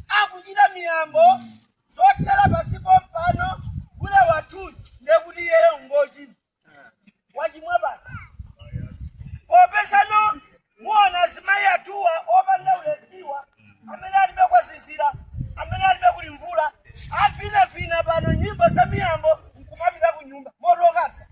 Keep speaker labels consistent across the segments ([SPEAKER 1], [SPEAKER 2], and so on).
[SPEAKER 1] akuchita miyambo zothera pansi pompano gule wathuyu ndiye kuti iyeyo ngochimwa wachimwa basi popezano muona azimayi athuwa opanda ulesiwa amene alibe kwazizira amene alibe kuli mvula avinavina pano nyimbo za miyambo nkumapita ku nyumba motokasa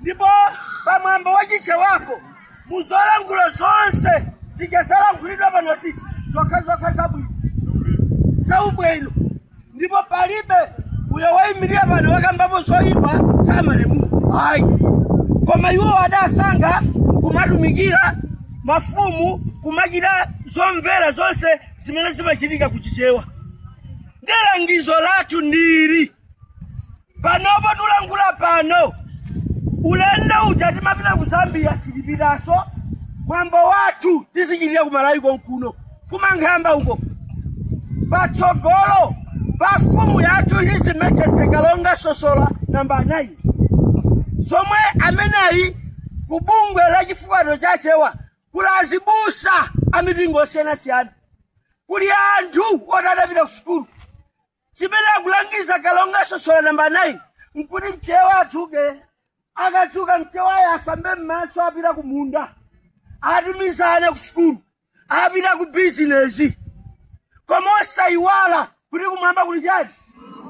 [SPEAKER 1] ndipo pa mwambo wa chichewapo muzolankhula zonse zija zalankhulidwa pano zinthu zokhazokha zabwino zaubwino ndipo palibe uyo waimirira pano wakambapo zoyipa za malemu ayi koma iwo adasankha kumatumikira mafumu kumachita zomvera zonse zimene zimachitika kuchichewa ndilangizo lathu ndiri panopo tulankhula pano ulendo uja timapita ku zambia sitipitaso mwambo wathu tizichitira ku malawi konkuno kumankhamba uko patsogolo pa mfumu yathu his majesty kalonga sosola namba 9 zomwe ameneyi ku bungwe la chifukwano cha chewa kuli azibusa a mipingo osiyanasiyana kuli anthu oti adapita ku sukulu chimene akulangiza kalonga sosola namba 9 nkuti mchewa adzuke akadzuka mchewayo asambe m'maso apita ku munda atumize ana ku sukulu apita ku bizinesi koma osayiwala kuti kumwamba kuli chani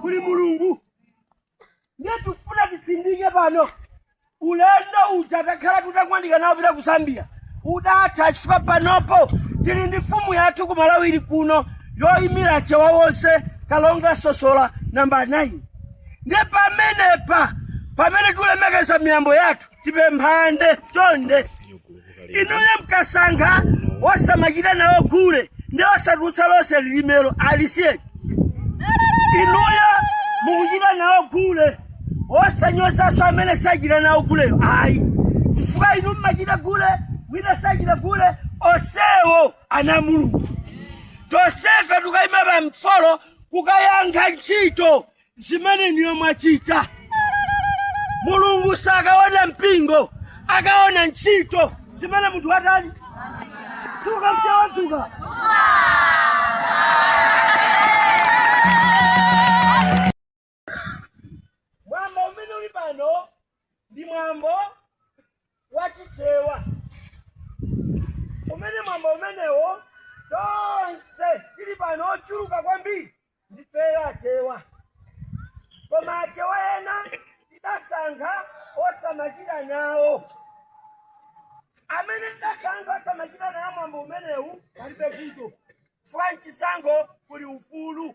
[SPEAKER 1] kuli mulungu ndiye tikufuna titsindike pano ulendo uja takhala tutangwanika nawo wopita ku zambia udatha chifukwa panopo tili ndi mfumu yathu ku malawi ili kuno yoyimira achewa onse kalonga sosola namba 9 ndiye pamenepa pamene tilemekeza miyambo yathu tipemphane chonde inuyo mkasankha osamachita nawo gule ndiye osatulutsa lonse lilimelo alisiyeni inuyo mukuchita nawo gule osanyozaso amene sachita nawo guleyo ayi chifukwa inu mmachita gule wina sachita gule osewo ana a mulungu tosefe tukayima pamfolo kukayankha ntchito zimene inuyo mwachita mulungu sakaona mpingo akaona ntchito zimene munthu watani dzuka mchewa dzuka mwambo umene uli pano ndi mwambo wachichewa umene mwambo umenewo tonse tili pano ochuluka kwambiri ndifeyo achewa koma achewa ena tidasankha osamachita nawo amene tidasankha osamachita nawo mwambo umenewu palibe vuto chifukwa mchisankho kuli ufulu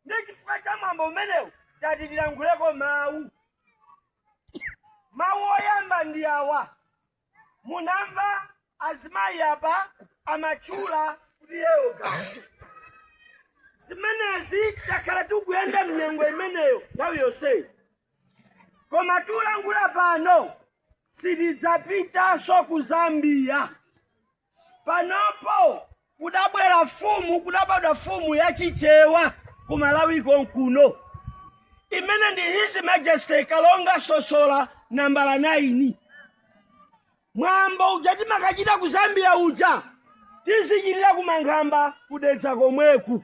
[SPEAKER 1] ndi chifukwa cha mwambo umenewu tati tilankhuleko mawu mawu oyamba ndi awa Munamva azimayi apa amatchula kuti yewo Gawa. Zimenezi takhala tikuyenda mnyengo imeneyo nthawi yonseyi. Koma tikulankhula pano sitidzapitanso ku Zambia. Panopo kudabwera fumu, kudabadwa fumu ya Chichewa ku Malawi konkuno imene ndi His Majesty Kalonga Sosola nambala 9. Mwambo uja timakachita ku Zambia uja tizichitira ku Mankhamba ku Dedza komweku.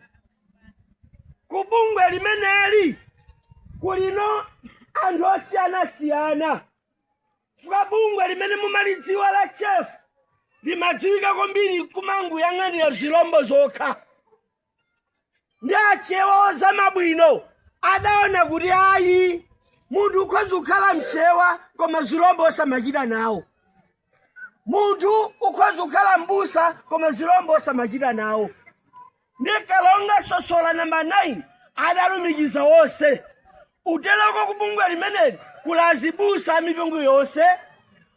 [SPEAKER 1] Ku bungwe limeneli kulino anthu osiyanasiyana. chifukwa bungwe limene mumalidziwa la CHEFO limadziwika kwambiri kumangoyang'anira zilombo zokha ndi achewa ozama bwino adaona kuti ayi munthu ukhoza kukhala mchewa koma zilombo osamachita nawo munthu ukhoza kukhala mbusa koma zilombo osamachita nawo ndi kalonga sosola namba 9 adalumikiza wonse kuteroko kubungwe limeneli kuli azibusa amipingo yonse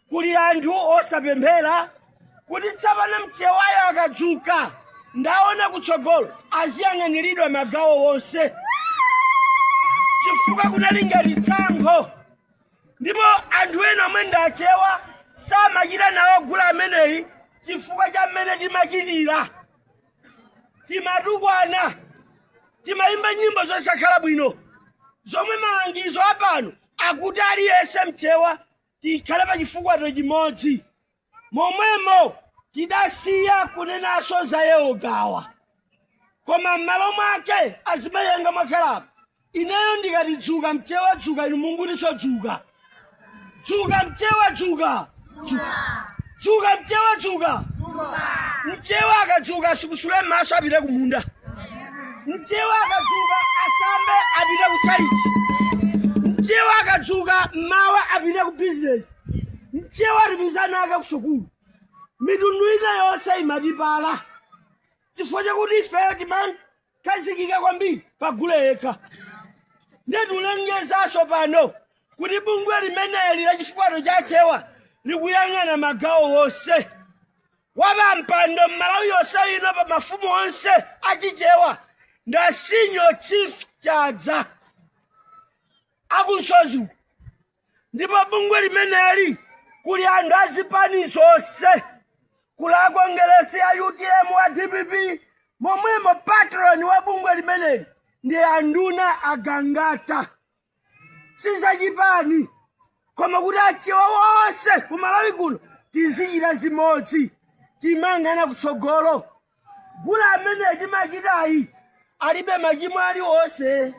[SPEAKER 1] kuli anthu osapemphera kuti tsapano mchewayo akadzuka ndaona kutsogolo aziyang'aniridwa magawo wonse chifukwa kunali ngati tsankho ndipo anthu ena omwe ndachewa samachita nawo gule ameneyi chifukwa cha mmene timachitira timatukwana timayimba nyimbo zosakhala bwino zomwe malangizo apano akuti aliyense mchewa tikhale pa chifukato chimodzi momwemo tidasiya kunenaso za yewo gawa koma m'malo mwake azimayi anga mwakhalapo ineyo ndikati dzuka mchewa dzuka inu mungutiso dzuka dzuka mchewa dzuka Dzuka. dzuka mchewa dzuka mchewa akadzuka asikusule maso apite kumunda mchewa akadzuka asambe apite kuchalichi mchewa akadzuka mmawa apite ku bizinesi mchewa atipizana ake kusukulu mitundu ina yonse imatipala chifukwa chakuti ifeyo timan- khazikika kwambiri pa gule yekha ndiye tikulengezanso pano kuti bungwe limeneli la chifukato cha achewa likuyang'ana magawo wonse wapampando m'malawi yonse ino pa mafumu onse achichewa ndi a senior chief chadza a ku msozi uku ndipo bungwe limeneli kuli anthu a zipani zonse kuli a kongeresi a utm wa dpp momwemo patroni wa bungwe limeneli ndi anduna agangata si zachipani koma kuti achewa wonse ku malawi kuno tizichita zimodzi timangana kutsogolo gula amene timachitayi alibe machimo aliwonse